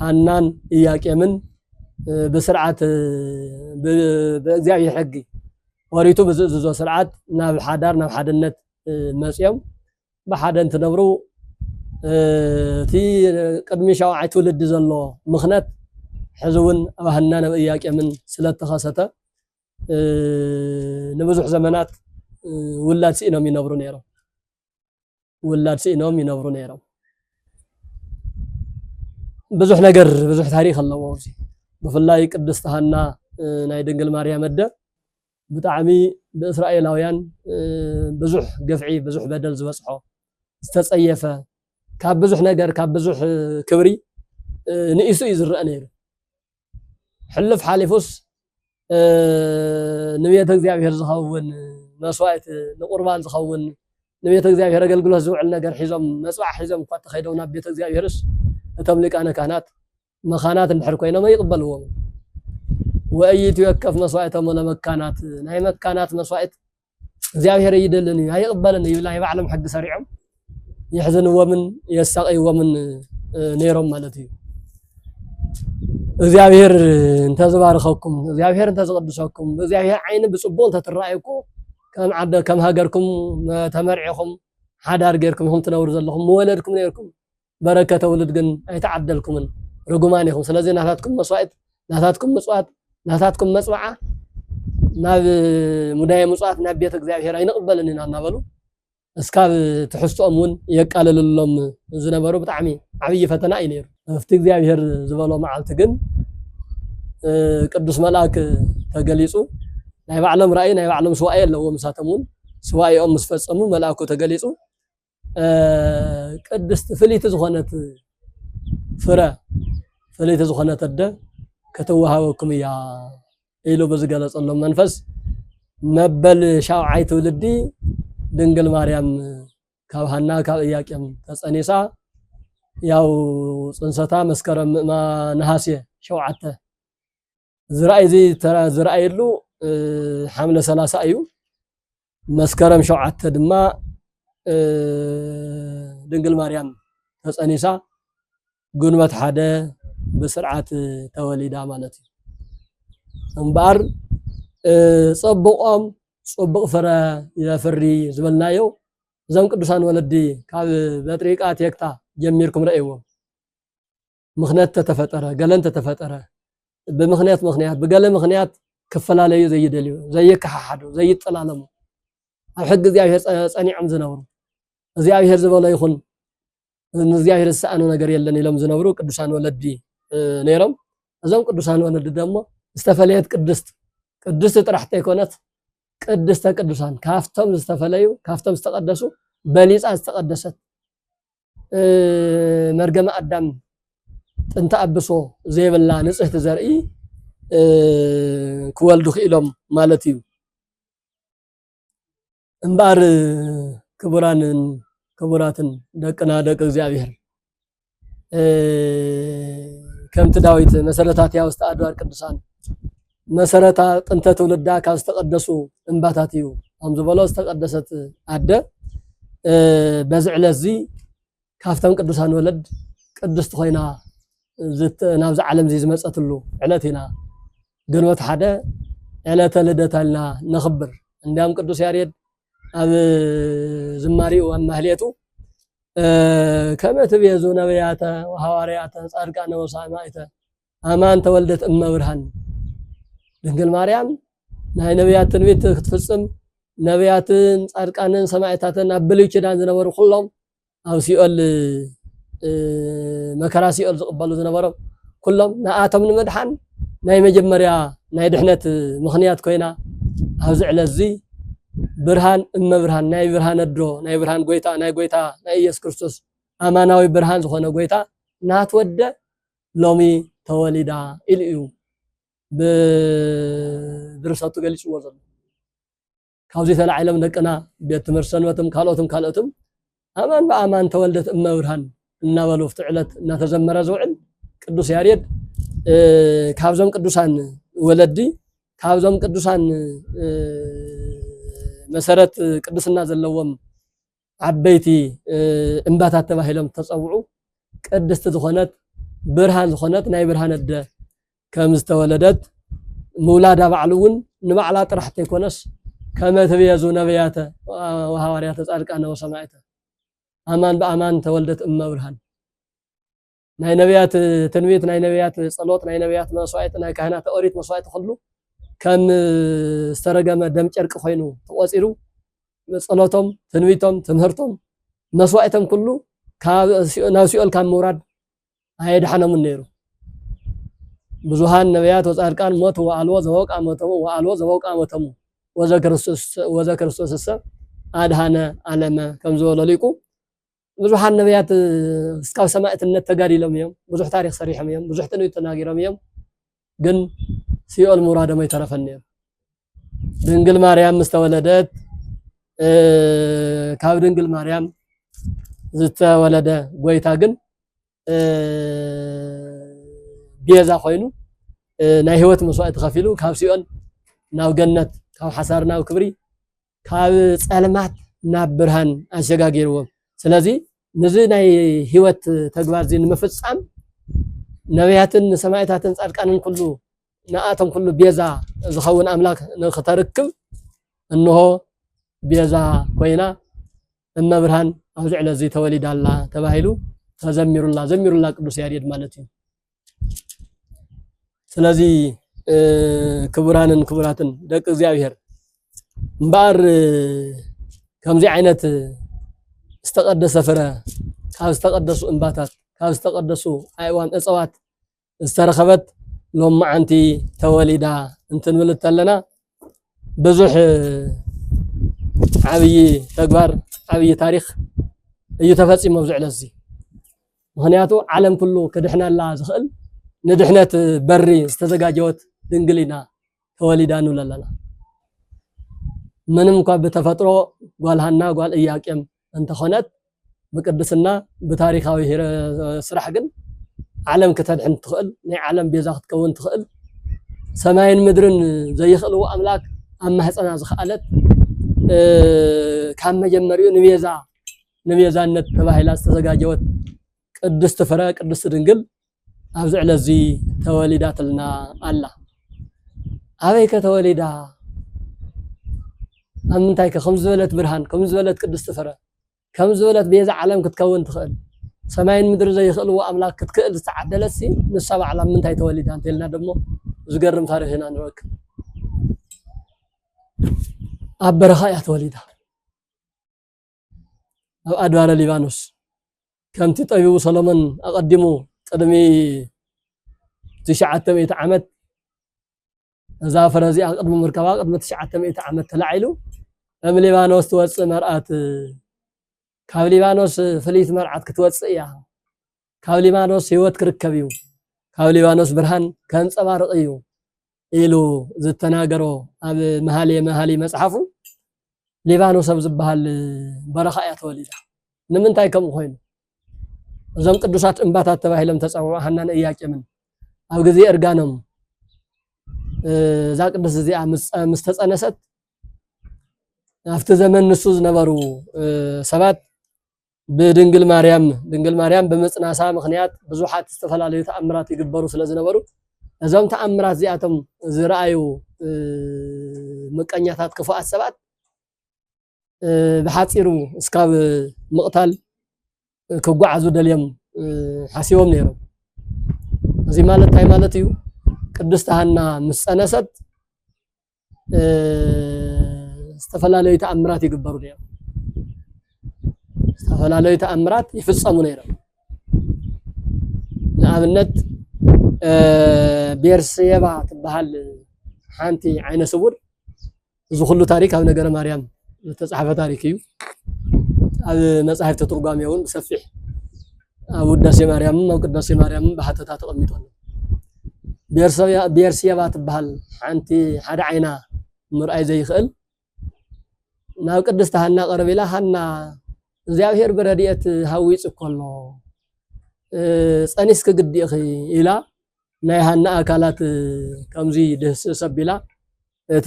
ሃናን እያቄምን ብስርዓት ብእግዚኣብሔር ሕጊ ወሪቱ ብዝእዝዞ ስርዓት ናብ ሓዳር ናብ ሓድነት መፅኦም ብሓደ እንትነብሩ እቲ ቅድሚ ሻውዓይ ትውልዲ ዘሎ ምኽነት ሕዚ እውን ኣብ ሃናን ኣብ እያቄምን ስለተኸሰተ ንብዙሕ ዘመናት ውላድ ስኢኖም ይነብሩ ነይሮም ውላድ ስኢኖም ይነብሩ ነይሮም ብዙሕ ነገር ብዙሕ ታሪክ ኣለዎ እዚ ብፍላይ ቅድስቲ ሃና ናይ ድንግል ማርያም ኣደ ብጣዕሚ ብእስራኤላውያን ብዙሕ ግፍዒ ብዙሕ በደል ዝበጽሖ ዝተጸየፈ ካብ ብዙሕ ነገር ካብ ብዙሕ ክብሪ ንኢሱ እዩ ዝረአ ነይሩ ሕልፍ ሓሊፉስ ንቤተ እግዚኣብሔር ዝኸውን መስዋእት ንቁርባን ዝኸውን ንቤተ እግዚኣብሔር ኣገልግሎት ዝውዕል ነገር ሒዞም መጽባዕ ሒዞም እኳ ተኸይዶም ናብ ቤተ እግዚኣብሔርስ እቶም ሊቃነ ካህናት መኻናት እንድሕር ኮይኖም ኣይቕበልዎምን። ወእይእትዩ ወከፍ መስዋእቶም ለመካናት ናይ መካናት መስዋእት እግዚኣብሔር ኣይደልን እዩ ኣይቕበልን እዩ ናይ ባዕሎም ሕጊ ሰሪዖም የሕዝንዎምን የሳቀይዎምን ነይሮም ማለት እዩ። እግዚኣብሔር እንተዝባርኸኩም እግዚኣብሔር እንተዝቕድሰኩም ብእግዚኣብሔር ዓይኒ ብፅቡቅ እንተትረኣየኩ ከም ዓደ ከም ሃገርኩም ተመርዒኹም ሓዳር ጌርኩም ኢኹም ትነብሩ ዘለኹም ምወለድኩም ነይርኩም በረከተ ውሉድ ግን ኣይተዓደልኩምን ርጉማን ኢኩም ስለዚ ናታትኩም መስዋኢት ናታትኩም ምጽዋት ናታትኩም መጽብዓ ናብ ሙዳየ ምጽዋት ናብ ቤተ እግዚኣብሔር ኣይንቕበልን ኢና እናበሉ እስካብ ትሕዝትኦም እውን የቃልልሎም ዝነበሩ ብጣዕሚ ዓብዪ ፈተና እዩ ነይሩ። ኣብቲ እግዚኣብሔር ዝበሎ መዓልቲ ግን ቅዱስ መልኣክ ተገሊጹ ናይ ባዕሎም ራእይ ናይ ባዕሎም ስዋኤ ኣለዎም ንሳቶም እውን ስዋኤኦም ምስ ፈጸሙ መልኣኩ ተገሊጹ ቅድስት ፍልይቲ ዝኾነት ፍረ ፍልይቲ ዝኾነት ኣደ ክትወሃበኩም እያ ኢሉ ብዝገለጸሎም መንፈስ መበል ሻውዓይ ትውልዲ ድንግል ማርያም ካብ ሃና ካብ እያቄም ተጸኒሳ ያው ጽንሰታ መስከረም ምእማ ነሃሴ ሸውዓተ ዝርኣይ ዝርኣየሉ ሓምለ ሰላሳ እዩ። መስከረም ሸውዓተ ድማ ድንግል ማርያም ተፀኒሳ ግንቦት ሓደ ብስርዓት ተወሊዳ ማለት እዩ። እምበኣር ፀቡቆም ፅቡቕ ፍረ የፍሪ ዝበልናዮ እዞም ቅዱሳን ወለዲ ካብ በጥሪቃ ቴክታ ጀሚርኩም ረእይዎም። ምኽንያት ተተፈጠረ ገለ እንተተፈጠረ ብምኽንያት ምኽንያት ብገለ ምኽንያት ክፈላለዩ ዘይደልዩ ዘይከሓሓዱ ዘይጠላለሙ ኣብ ሕጊ እግዚኣብሔር ጸኒዖም ዝነብሩ እግዚኣብሔር ዝበሎ ይኹን ንእግዚኣብሔር ዝሰኣኑ ነገር የለን ኢሎም ዝነብሩ ቅዱሳን ወለዲ ነይሮም እዞም ቅዱሳን ወለዲ ደሞ ዝተፈለየት ቅድስት ቅድስቲ ጥራሕ ተይኮነት ቅድስተ ቅዱሳን ካብቶም ዝተፈለዩ ካብቶም ዝተቀደሱ በሊፃ ዝተቀደሰት መርገመ ኣዳም ጥንተ ኣብሶ ዘይብላ ንጽህቲ ዘርኢ ክወልዱ ክኢሎም ማለት እዩ እምበኣር ክቡራንን ክቡራትን ደቅና ደቂ እግዚኣብሔር ከምቲ ዳዊት መሰረታት ያውስተ ኣድባር ቅዱሳን መሰረታ ጥንተ ትውልዳ ካብ ዝተቀደሱ እምባታት እዩ ከም ዝበሎ ዝተቀደሰት ኣደ በዚ ዕለት እዚ ካብተን ቅዱሳን ወለድ ቅድስቲ ኮይና ናብዚ ዓለም እዚ ዝመፀትሉ ዕለት ኢና ግንቦት ሓደ ዕለተ ልደታ ኢልና ነኽብር። እንዲያም ቅዱስ ያሬድ ኣብ ዝማሬኡ ኣብ ማህሌቱ ከመ ትቤዙ ነቢያተ ወሐዋርያተ ጻድቃነ ወሰማዕተ ኣማን ተወልደት እመ ብርሃን ድንግል ማርያም ናይ ነብያት ትንቢት ክትፍጽም ነብያትን ጻድቃንን ሰማዕታትን ኣብ ብሉይ ኪዳን ዝነበሩ ኩሎም ኣብ ሲኦል መከራ ሲኦል ዝቕበሉ ዝነበሮም ኩሎም ንኣቶም ንምድሓን ናይ መጀመርያ ናይ ድሕነት ምኽንያት ኮይና ኣብዚ ዕለት እዚ ብርሃን እመ ብርሃን ናይ ብርሃን ኣድሮ ናይ ብርሃን ጎይታ ናይ ጎይታ ናይ ኢየሱስ ክርስቶስ ኣማናዊ ብርሃን ዝኾነ ጎይታ ናትወደ ሎሚ ተወሊዳ ኢሉ እዩ ብድርሰቱ ገሊፅዎ ዘሎ ካብዚ ተላዒሎም ደቅና ቤት ትምህርቲ ሰንበትም ካልኦትም ካልኦትም ኣማን ብኣማን ተወልደት እመ ብርሃን እናበሉ ፍቲ ዕለት እናተዘመረ ዝውዕል ቅዱስ ያሬድ ካብዞም ቅዱሳን ወለዲ ካብዞም ቅዱሳን መሰረት ቅድስና ዘለዎም ዓበይቲ እምባታት ተባሂሎም ዝተፀውዑ ቅድስቲ ዝኾነት ብርሃን ዝኾነት ናይ ብርሃን ኣደ ከም ዝተወለደት ምውላዳ ባዕሉ እውን ንባዕላ ጥራሕ ተይኮነስ ከመ ትብየዙ ነብያተ ወሃዋርያተ ጻድቃነ ወሰማዕተ ኣማን ብኣማን ተወልደት እመ ብርሃን ናይ ነብያት ትንቢት፣ ናይ ነብያት ጸሎት፣ ናይ ነብያት መስዋእቲ፣ ናይ ካህናተ ኦሪት መስዋእቲ ኩሉ ከም ዝተረገመ ደም ጨርቂ ኮይኑ ተቖጺሩ ጸሎቶም፣ ትንቢቶም፣ ትምህርቶም፣ መስዋእቶም ኩሉ ካብ ናብ ሲኦል ካብ ምውራድ ኣየድሓኖምን ነይሩ። ብዙሃን ነብያት ወጻድቃን ሞት ወኣልቦ ዘበውቃ ሞተሙ ወኣልቦ ዘበውቃ ሞተሙ ወዘ ክርስቶስ ወዘ ክርስቶስሰ ኣድሃነ ኣለመ ከም ዝበሎ ሊቁ ብዙሓት ነብያት እስካብ ሰማእትነት ተጋዲሎም እዮም። ብዙሕ ታሪክ ሰሪሖም እዮም። ብዙሕ ትንቢት ተናጊሮም እዮም። ግን ሲኦል ምውራዶም ኣይተረፈን ነይሩ። ድንግል ማርያም ምስ ተወለደት ካብ ድንግል ማርያም ዝተወለደ ጎይታ ግን ቤዛ ኮይኑ ናይ ህይወት መስዋእቲ ከፊሉ ካብ ሲኦል ናብ ገነት ካብ ሓሳር ናብ ክብሪ ካብ ጸልማት ናብ ብርሃን ኣሸጋጊርዎም። ስለዚ ንዚ ናይ ህይወት ተግባር እዚ ንምፍጻም ነብያትን ሰማዕታትን ጻድቃንን ኩሉ ንኣቶም ኩሉ ቤዛ ዝኸውን ኣምላክ ንክተርክብ እንሆ ቤዛ ኮይና እመብርሃን ኣብዚ ዕለት እዚ ተወሊዳ ኣላ ተባሂሉ ተዘሚሩላ ዘሚሩላ ቅዱስ ያሬድ ማለት እዩ። ስለዚ ክቡራንን ክቡራትን ደቂ እግዚኣብሔር እምበኣር ከምዚ ዓይነት ዝተቀደሰ ፍረ ካብ ዝተቀደሱ እምባታት ካብ ዝተቀደሱ ኣእዋም እፅዋት ዝተረኸበት ሎም መዓንቲ ተወሊዳ እንትንብል እንተለና ብዙሕ ዓብዪ ተግባር ዓብዪ ታሪክ እዩ ተፈፂሞ ኣብዚ ዕለት እዚ ምክንያቱ ዓለም ኩሉ ክድሕነላ ዝኽእል ንድሕነት በሪ ዝተዘጋጀወት ድንግሊና ተወሊዳ ንብል ኣለና ምንም እኳ ብተፈጥሮ ጓል ሃና ጓል እያቄም እንተኾነት ብቅድስና ብታሪኻዊ ሂረ ስራሕ ግን ዓለም ክተድሕን እትኽእል ናይ ዓለም ቤዛ ክትከውን ትኽእል ሰማይን ምድርን ዘይኽእልዎ ኣምላክ ኣብ ማህፀና ዝኸኣለት ካብ መጀመሪኡ ንቤዛ ንቤዛነት ተባሂላ ዝተዘጋጀወት ቅድስቲ ፍረ ቅድስቲ ድንግል ኣብዚ ዕለትዚ ተወሊዳትልና ኣላ። ኣበይከ ተወሊዳ? ኣብ ምንታይከ? ከም ዝበለት ብርሃን፣ ከም ዝበለት ቅድስቲ ፍረ፣ ከም ዝበለት ቤዛ ዓለም ክትከውን ትኽእል። ሰማይን ምድሪ ዘይኽእልዎ ኣምላኽ ክትክእል ዝተዓደለትሲ ንሳ ባዕላ ኣብ ምንታይ ተወሊዳ እንተልና ደሞ ዝገርም ታሪኽ ኢና ንረክብ። ኣብ በረኻ እያ ተወሊዳ። ኣብ ኣድባረ ሊባኖስ ከምቲ ጠቢቡ ሰሎሞን ኣቐዲሙ ቅድሚ ትሽዓተ ሚእቲ ዓመት እዛ ፍረ እዚኣ ቅድሚ ምርከባ ቅድሚ ትሽዓተ ሚእቲ ዓመት ተላዒሉ እም ሊባኖስ ትወፅእ መርኣት ካብ ሊባኖስ ፍልይቲ መርዓት ክትወፅእ እያ ካብ ሊባኖስ ህይወት ክርከብ እዩ፣ ካብ ሊባኖስ ብርሃን ከንጸባርቕ እዩ ኢሉ ዝተናገሮ ኣብ መሃልየ መሃልይ መጽሓፉ ሊባኖስ ኣብ ዝበሃል በረኻ እያ ተወሊዳ። ንምንታይ ከምኡ ኮይኑ? እዞም ቅዱሳት እምባታት ተባሂሎም ተፀውዑ ሃናን እያቄምን ኣብ ግዜ እርጋኖም እዛ ቅድስት እዚኣ ምስ ተፀነሰት ኣብቲ ዘመን ንሱ ዝነበሩ ሰባት ብድንግል ማርያም ድንግል ማርያም ብምጽናሳ ምክንያት ብዙሓት ዝተፈላለዩ ተኣምራት ይግበሩ ስለ ዝነበሩ እዞም ተኣምራት እዚኣቶም ዝረኣዩ ምቀኛታት ክፉኣት ሰባት ብሓፂሩ እስካብ ምቕታል ክጓዓዙ ደልዮም ሓሲቦም ነይሮም። እዚ ማለት እንታይ ማለት እዩ? ቅድስቲ ሃና ምስ ጸነሰት ዝተፈላለዩ ተኣምራት ይግበሩ ነይሮም። ዝተፈላለዩ ተኣምራት ይፍፀሙ ነይሮም። ንኣብነት ቤርሴባ ትበሃል ሓንቲ ዓይነ ስውር እዚ ኩሉ ታሪክ ኣብ ነገረ ማርያም ዝተፃሕፈ ታሪክ እዩ። ኣብ መፃሕፍቲ ትርጓሜ እውን ብሰፊሕ ኣብ ውዳሴ ማርያምን ኣብ ቅዳሴ ማርያምን ብሓተታ ተቐሚጡ ኣሎ። ቤርሴባ ትበሃል ሓንቲ ሓደ ዓይና ምርኣይ ዘይኽእል ናብ ቅድስቲ ሃና ቀረብ ኢላ ሃና እግዚኣብሔር ብረድኤት ሃዊፁ እኮ ኣሎ ፀኒስኪ ግዲ ኢኺ ኢላ ናይ ሃና ኣካላት ከምዚ ድህስስ ኣቢላ እቲ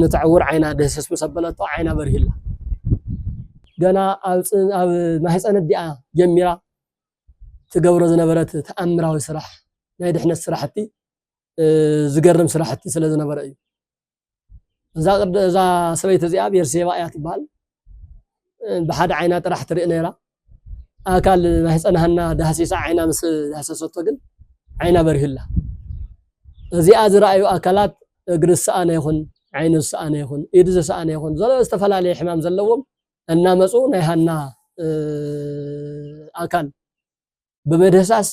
ነቲ ዕውር ዓይና ድህስስ ምስ ኣበለቶ ዓይና በሪህላ ገና ኣብ ማህፀን ኣዲኣ ጀሚራ ትገብሮ ዝነበረት ተኣምራዊ ስራሕ ናይ ድሕነት ስራሕቲ ዝገርም ስራሕቲ ስለ ዝነበረ እዩ። እዛ ቅድ እዛ ሰበይቲ እዚኣ ቤርሴባ እያ ትበሃል ብሓደ ዓይና ጥራሕ ትርኢ ነይራ ኣካል ናይ ህፀን ሃና ዳህሲሳ ዓይና ምስ ዳህሰሰቶ ግን ዓይና በሪህላ እዚኣ ዝረኣዩ ኣካላት እግሪ ዝሰኣነ ይኹን ዓይኑ ዝሰኣነ ይኹን ኢድ ዝሰኣነ ይኹን ዘሎ ዝተፈላለየ ሕማም ዘለዎም እናመፁ ናይ ሃና ኣካል ብመደህሳስ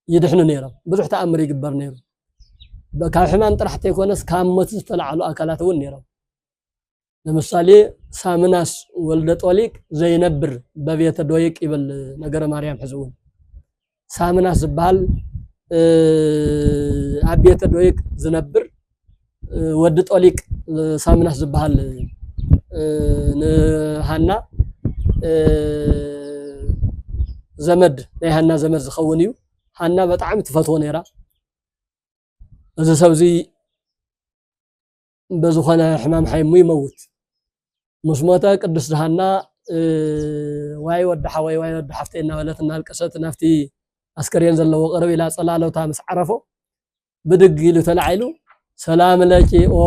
ይድሕኑ ነይሮም። ብዙሕ ተኣምር ይግበር ነይሩ። ካብ ሕማም ጥራሕ ተይኮነስ ካብ ሞት ዝተላዕሉ ኣካላት እውን ነይሮም። ለምሳሌ ሳምናስ ወልደ ጦሊቅ ዘይነብር በቤተ ዶይቅ ይብል ነገረ ማርያም ሕዚ እውን ሳምናስ ዝበሃል ኣብ ቤተ ዶይቅ ዝነብር ወዲ ጦሊቅ ሳሚናስ ዝበሃል ንሃና ዘመድ ናይ ሃና ዘመድ ዝኸውን እዩ ሃና በጣዕሚ ትፈትዎ ነይራ እዚ ሰብ እዚ በዝኾነ ሕማም ሓይሙ ይመውት ምስ ሞተ ቅድስት ሃና ዋይ ወዲ ሓወይ ዋይ ወዲ ሓፍተይ እናበለት እናልቀሰት ናብቲ ኣስከሬን ዘለዎ ቅርብ ኢላ ፀላሎታ ምስ ዓረፎ ብድግ ኢሉ ተላዒሉ ሰላም ለኪ ኦ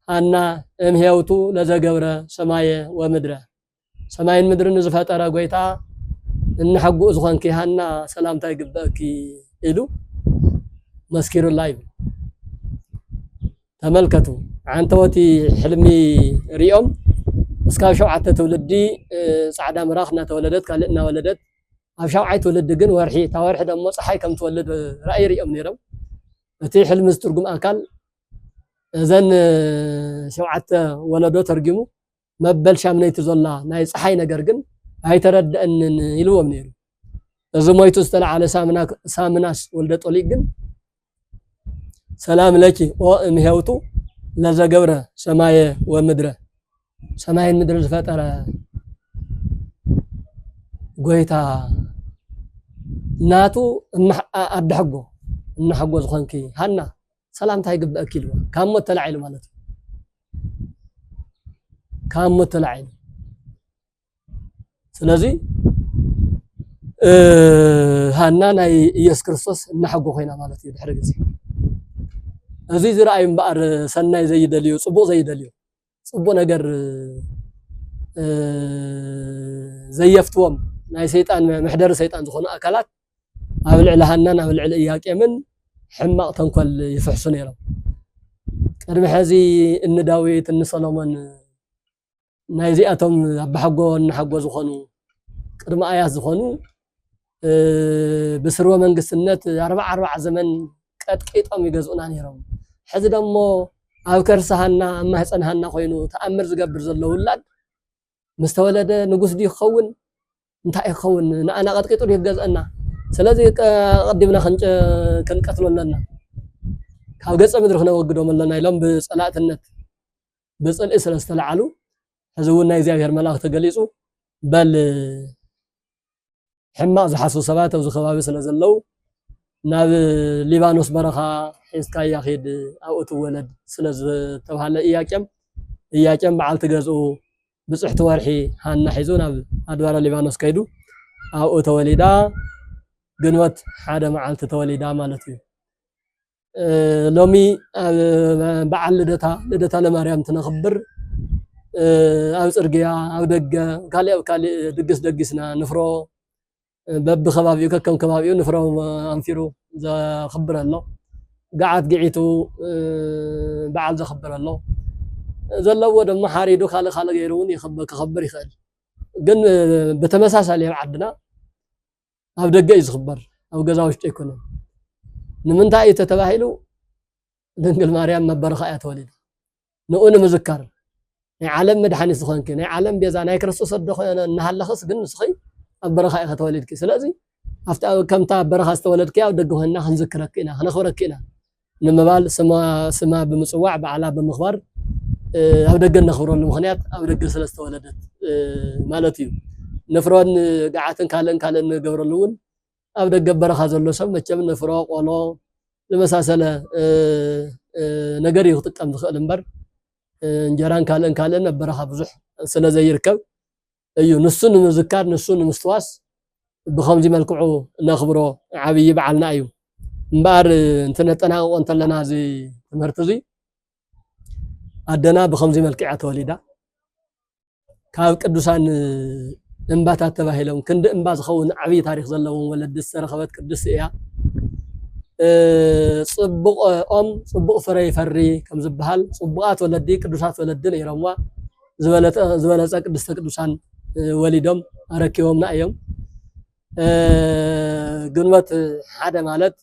ሃና እም ሄውቱ ለዘገብረ ሰማየ ወምድረ ሰማይን ምድርን ንዝፈጠረ ጎይታ እንሕጉእ ዝኾንኪ ሃና ሰላምታ ይግበእኪ ኢሉ መስኪሩላ ይብል። ተመልከቱ ዓንተወቲ ሕልሚ ሪኦም እስካብ ሸውዓተ ትውልዲ ፃዕዳ ምራኽ እናተወለደት ካልእ እናወለደት ኣብ ሻውዓይ ትውልዲ ግን ወርሒ እታ ወርሒ ደሞ ጸሓይ ከም ትወልድ ራእይ ሪኦም ነይሮም። እቲ ሕልሚ ዝትርጉም ኣካል እዘን ሸውዓተ ወለዶ ተርጊሙ መበል ሻምነይቲ ዞላ ናይ ጸሓይ ነገር ግን ኣይተረደአንን ኢልዎም ነይሩ። እዚ ሞይቱ ዝተለዓለ ሳምናስ ወልደጦሊቅ ግን ሰላም ለኪ ኦ እምሄውቱ ለዘገብረ ሰማየ ወምድረ ሰማይን ምድር ዝፈጠረ ጎይታ ናቱ ኣደ ሕጎ እና ሕጎ ዝኾንኪ ሃና ሰላምታ ይግበአኪ ኢልዋ ካብ ሞት ተላዒሉ ማለት እዩ ካብ ሞት ተላዒሉ ስለዚ ሃና ናይ ኢየሱስ ክርስቶስ እናሐጎ ኮይና ማለት እዩ ድሕሪ ግዜ እዚ ዝረኣዩ እምበኣር ሰናይ ዘይደልዩ ፅቡቕ ዘይደልዩ ፅቡቕ ነገር ዘየፍትዎም ናይ ሰይጣን መሕደሪ ሰይጣን ዝኾኑ ኣካላት ኣብ ልዕሊ ሃናን ኣብ ልዕሊ እያቄምን ሕማቕ ተንኮል ይፍሕሱ ነይሮም ቅድሚ ሕዚ እኒ ዳዊት እኒ ሰሎሞን ናይ እዚኣቶም ኣባሓጎ እነሓጎ ዝኾኑ ቅድሚ ኣያት ዝኾኑ ብስርወ መንግስትነት ኣርባዕ ኣርባዕ ዘመን ቀጥቂጦም ይገዝኡና ነይሮም። ሕዚ ደሞ ኣብ ከርሲ ሃና ኣብ ማህፀን ሃና ኮይኑ ተኣምር ዝገብር ዘሎ ውላድ ምስ ተወለደ ንጉስ ድዩ ክኸውን እንታይ ክኸውን ንኣና ቀጥቂጡ ድዩ ክገዝአና? ስለዚ ቀዲምና ክንቀትሎ ኣለና ካብ ገፀ ምድሪ ክነወግዶም ኣለና ኢሎም ብፀላእትነት ብጽልኢ ስለ ዝተላዕሉ ሕዚ እውን ናይ እግዚኣብሔር መልኣኽ ተገሊጹ በል ሕማቕ ዝሓስቡ ሰባት ኣብዚ ከባቢ ስለ ዘለዉ ናብ ሊባኖስ በረኻ ሒዝካያ ኺድ ኣብኡ ትወለድ ስለ ዝተብሃለ እያቄም እያቄም በዓልቲ ገዝኡ ብፅሕቲ ወርሒ ሃና ሒዙ ናብ ኣድባረ ሊባኖስ ከይዱ ኣብኡ ተወሊዳ ግንቦት ሓደ መዓልቲ ተወሊዳ ማለት እዩ። ሎሚ በዓል ልደታ ልደታ ለማርያም ትነኽብር ኣብ ፅርግያ ኣብ ደገ ካሊእ ኣብ ካሊእ ድግስ ደጊስና ንፍሮ በብከባቢኡ ከከም ከባቢኡ ንፍሮ ኣንፊሩ ዘኽብር ኣሎ ገዓት ግዒቱ በዓል ዘኽብር ኣሎ ዘለዎ ድማ ሓሪዱ ካልእ ካልእ ገይሩ እውን ክኸብር ይኽእል ግን ብተመሳሳሊ ኣብ ዓድና ኣብ ደገ እዩ ዝኽበር ኣብ ገዛ ውሽጢ ኣይኮነን ንምንታይ እዩ ተተባሂሉ ድንግል ማርያም መበረኻ እያ ተወሊዳ ንኡ ንምዝካር ናይ ዓለም መድሓኒት ዝኾንኪ ናይ ዓለም ቤዛ ናይ ክርስቶስ ወዲ ኮይነ እናሃለኽስ ግን ንስኺ ኣብ በረኻ ኢኻ ተወሊድኪ ስለዚ ኣብታ ከምታ ኣብ በረኻ ዝተወለድኪ ኣብ ደገ ኮይንና ክንዝክረኪ ኢና ክነኽብረኪ ኢና ንምባል ስማ ብምፅዋዕ በዓላ ብምኽባር ኣብ ደገ እነኽብረሉ ምኽንያት ኣብ ደገ ስለ ዝተወለደት ማለት እዩ። ንፍሮን ገዓትን ካልእን ካልእን እንገብረሉ እውን ኣብ ደገ ኣብ በረኻ ዘሎ ሰብ መቸም ንፍሮ፣ ቆሎ ዝመሳሰለ ነገር እዩ ክጥቀም ዝኽእል እምበር እንጀራን ካልእን ካልእን ኣብ በረኻ ብዙሕ ስለ ዘይርከብ እዩ ንሱ ንምዝካር ንሱ ንምስትዋስ ብኸምዚ መልክዑ ነኽብሮ ዓብዪ በዓልና እዩ እምበኣር እንትነጠናቕቆ እንተለና እዚ ትምህርቲ እዙይ ኣደና ብኸምዚ መልክዕ እያ ተወሊዳ ካብ ቅዱሳን እምባታት ተባሂሎም ክንዲ እምባ ዝኸውን ዓብዪ ታሪክ ዘለዎም ወለዲ ዝተረኸበት ቅድስቲ እያ። ፅቡቕ ኦም ፅቡቕ ፍረ ይፈሪ ከም ዝበሃል ፅቡቓት ወለዲ ቅዱሳት ወለዲ ነይሮምዋ። ዝበለፀ ቅድስተ ቅዱሳን ወሊዶም ኣረኪቦምና እዮም። ግንቦት ሓደ ማለት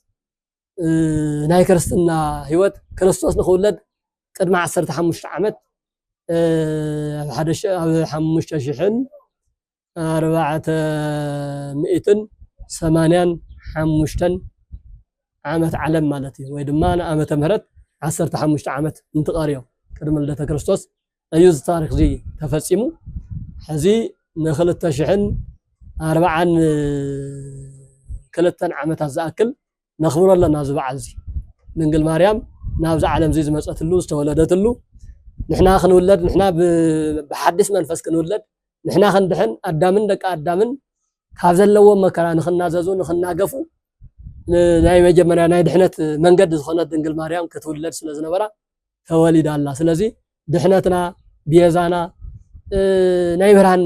ናይ ክርስትና ህይወት ክርስቶስ ንክውለድ ቅድሚ ዓሰርተ ሓሙሽተ ዓመት ኣብ ሓደ ኣብ ሓሙሽተ ሽሕን ኣርባዕተ ሚእትን ሰማንያን ሓሙሽተን ዓመት ዓለም ማለት እዩ ወይ ድማ ንዓመተ ምህረት ዓሰርተ ሓሙሽተ ዓመት እንትቐርዮ ቅድሚ ልደተ ክርስቶስ እዩ እዚ ታሪክ እዚ ተፈፂሙ ሕዚ ንክልተ ሽሕን ኣርባዓን ክልተን ዓመታት ዝኣክል ነኽብሮ ኣለና እዚ በዓል እዚ ድንግል ማርያም ናብዚ ዓለም እዚ ዝመፀትሉ ዝተወለደትሉ ንሕና ክንውለድ ንሕና ብሓድሽ መንፈስ ክንውለድ ንሕና ክንድሕን ኣዳምን ደቂ ኣዳምን ካብ ዘለዎም መከራ ንክናዘዙ ንክናገፉ ናይ መጀመርያ ናይ ድሕነት መንገዲ ዝኾነት ድንግል ማርያም ክትውለድ ስለ ዝነበራ ተወሊዳ ኣላ ስለዚ ድሕነትና ቤዛና ናይ ብርሃን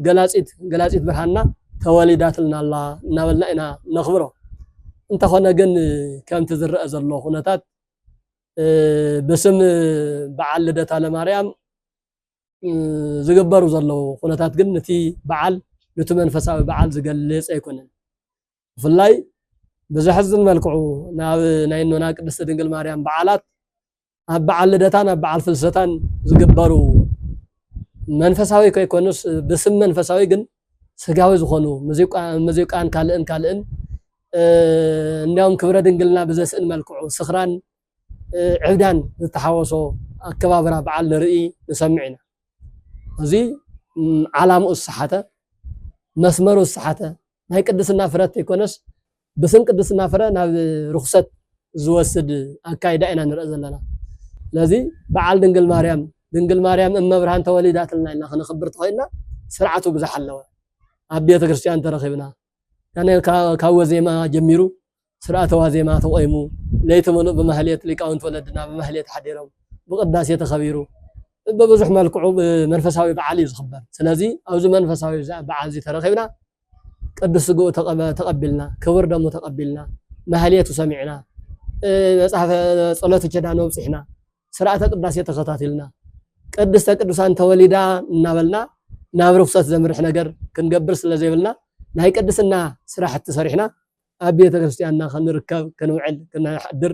ገላፂት ገላፂት ብርሃንና ተወሊዳትልና ኣላ እናበልና ኢና ነኽብሮ እንተኾነ ግን ከምቲ ዝረአ ዘሎ ኩነታት ብስም በዓል ልደታ ለማርያም ዝግበሩ ዘለዉ ኩነታት ግን ነቲ በዓል ነቲ መንፈሳዊ በዓል ዝገልፅ ኣይኮነን። ብፍላይ ብዘሕዝን መልክዑ ናብ ናይ እኖና ቅድስቲ ድንግል ማርያም በዓላት ኣብ በዓል ልደታን ኣብ በዓል ፍልሰታን ዝግበሩ መንፈሳዊ ከይኮኑስ ብስም መንፈሳዊ ግን ስጋዊ ዝኾኑ ሙዚቃን ካልእን ካልእን እንዲያውም ክብረ ድንግልና ብዘስእን መልክዑ ስኽራን ዕብዳን ዝተሓወሶ ኣከባብራ በዓል ንርኢ ንሰምዕ ኢና። እዚ ዓላምኡ ዝሰሓተ መስመሩ ዝሰሓተ ናይ ቅድስና ፍረት ዘይኮነስ ብስም ቅድስና ፍረ ናብ ርኹሰት ዝወስድ ኣካይዳ ኢና ንርኢ ዘለና ስለዚ በዓል ድንግል ማርያም ድንግል ማርያም እመብርሃን ተወሊዳትልና ኢልና ክንኽብር ተኾይንና ስርዓቱ ብዝሓለወ ኣብ ቤተ ክርስቲያን ተረኺብና ካብ ወዜማ ጀሚሩ ስርዓተ ዋዜማ ተቆይሙ ለይቲ ምሉእ ብማህሌት ሊቃውንቲ ወለድና ብማህሌት ሓዲሮም ብቅዳሴ ተኸቢሩ ብብዙሕ መልክዑ መንፈሳዊ በዓል እዩ ዝኽበር ስለዚ ኣብዚ መንፈሳዊ በዓል እዚ ተረኺብና ቅዱስ ስግኡ ተቐቢልና ክቡር ደሙ ተቐቢልና ማህሌቱ ሰሚዕና መጽሐፈ ጸሎተ ኪዳን ኣብጽሕና ስርዓተ ቅዳሴ ተኸታቲልና ቅድስተ ቅዱሳን ተወሊዳ እናበልና ናብ ርኩሰት ዘምርሕ ነገር ክንገብር ስለ ዘይብልና ናይ ቅድስና ስራሕቲ ሰሪሕና ኣብ ቤተ ክርስቲያንና ክንርከብ ክንውዕል ክንሓድር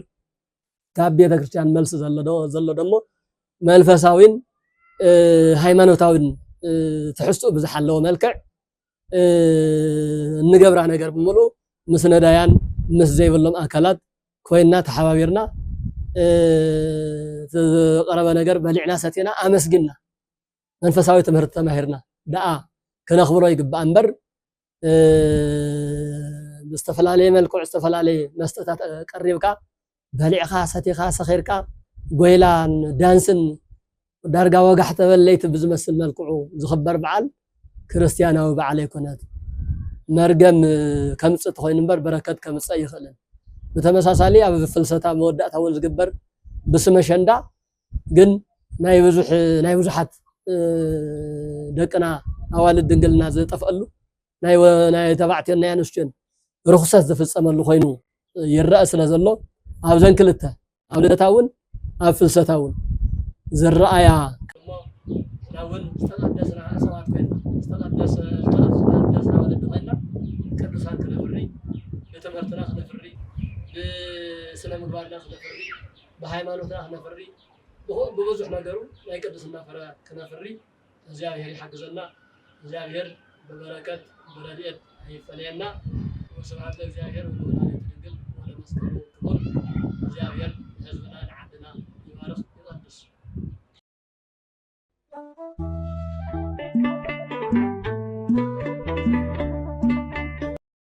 ካብ ቤተ ክርስቲያን መልሲ ዘሎ ደሞ መንፈሳዊን ሃይማኖታዊን ትሕዝትኡ ብዝሓለወ መልክዕ እንገብራ ነገር ብምሉእ ምስ ነዳያን ምስ ዘይብሎም ኣካላት ኮይና ተሓባቢርና ዝቀረበ ነገር በሊዕና ሰቲና ኣመስጊና መንፈሳዊ ትምህርቲ ተማሂርና ደኣ ክነኽብሮ ይግባእ እምበር ብዝተፈላለየ መልክዑ ዝተፈላለየ መስተታት ቀሪብካ በሊዕኻ ሰቲኻ ሰኺርካ ጎይላን ዳንስን ዳርጋ ወጋሕ ተበል ለይቲ ብዝመስል መልክዑ ዝኽበር በዓል ክርስትያናዊ በዓል ኣይኮነት። መርገም ከምጽእ ተኾይኑ እምበር በረከት ከምጽእ ኣይኽእልን። ብተመሳሳሊ ኣብ ፍልሰታ መወዳእታ እውን ዝግበር ብስመ ኣሸንዳ ግን ናይ ብዙሕ ናይ ብዙሓት ደቅና ኣዋልድ ድንግልና ዝጠፍኣሉ ናይ ተባዕትዮን ናይ ኣንስትዮን ርኹሰት ዝፍጸመሉ ኮይኑ ይረኣ ስለ ዘሎ ኣብዘን ክልተ ኣብ ልደታ እውን ኣብ ፍልሰታ እውን ዝረኣያ እውን ዝተቐደስና ሰባት ኮይና ዝተቐደሰ ዝተቐደስና ወለዲ ኮይና ቅዱሳን ክነፍሪ ብትምህርትና ክነፍሪ ብስነ ምግባርና ክነፍሪ ብሃይማኖትና ክነፍሪ ብብዙሕ ነገሩ ናይ ቅድስና ፍረ ክነፍሪ እግዛብሄር ይሓግዘና እግዛብሄር ብበረከት ብረድኤት ኣይፈለየና ወስብሃት ለእግዛብሄር ወለወላዲቱ ድንግል ወለመስቀሉ ክቡር እግዛብሄር ንህዝብና ንዓድና ይባርክ ይቀድስ።